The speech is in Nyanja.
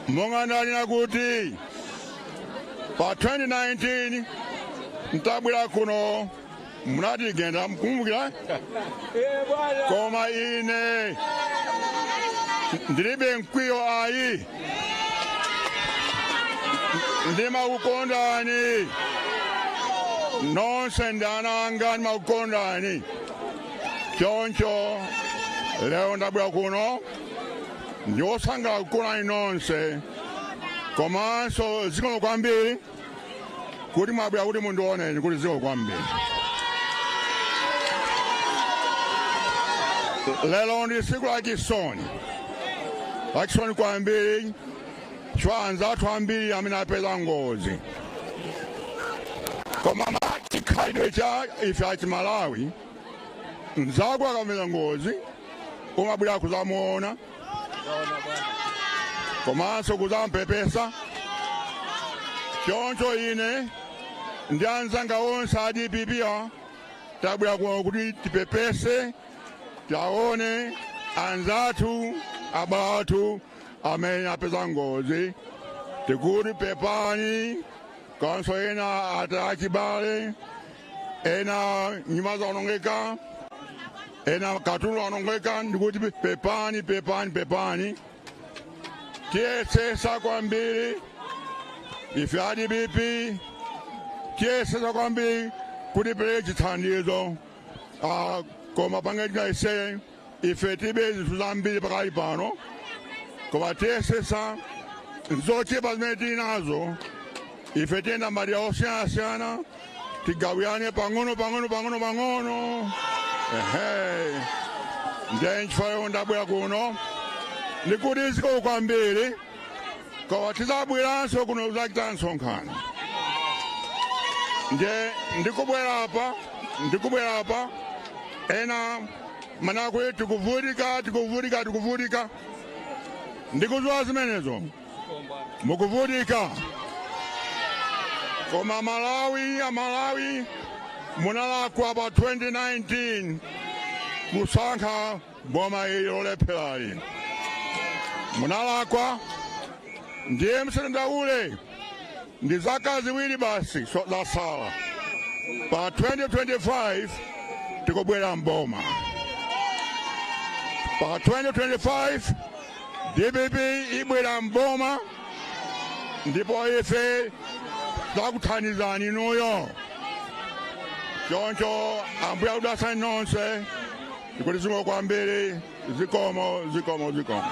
monga ndanena kuti pa 2019 nditabwera kuno munatigenda mukukumbukira koma ine ndilibe mkwiyo ayi ndimakukondani nonse ndi ana anga ndimakukondani choncho lero ndabwera kuno ndiwosangalala kukuonani nonse komanso zikomo kwambiri kuti mwabwera kuti mundiwoneni kuti zikomo kwambiri lero ndi tsiku lachisoni lachisoni kwambiri chifukwa anzathu ambiri amene apeza ngozi koma chikhalidwe cha ife achimalawi mzako akapeza ngozi umabwera kuzamuona komanso kuzampepesa choncho ine ndi anzanga onse a dpp tabwera kuno kuti tipepese taone anzathu abale athu amene apeza ngozi tikuti pepani komanso ena ataya achibale ena nyumba zaonongeka ena katundu waonongeka ndikuti pepani pepani pepani tiyesesa kwambiri ife adpp tiyesesa kwambiri kuti tipereke chithandizo Ah, koma pangani tinayesere ife tilibe zinthu zambiri pakali pano koma tiyesesa zochepa zimene tili nazo ife tiyenda madera osiyanasiyana tigawirane pang'ono pang'ono pang'ono pang'ono ehe ndiye nchifukwa yomwe ndabwera kuno ndikuti zikomo kwambiri koma tizabweranso kuno kuzachita msonkhano ndiye ndikubwera apa ndikubwera apa ena amanena kuti tikuvutika tikuvutika tikuvutika ndikuziwa zimenezo mukuvutika koma malawi amalawi munalakwa pa 2019 kusankha boma ili lolepherali munalakwa ndiye musadandaule ndi zaka ziwiri basi zasala pa 2025 tikubwera mboma pa 2025 dpp ibwera mboma ndipo ife tizakuthandizani inuyo choncho ambuye akudalitseni nonse ndikuti zikomo kwambiri zikomo zikomo zikomo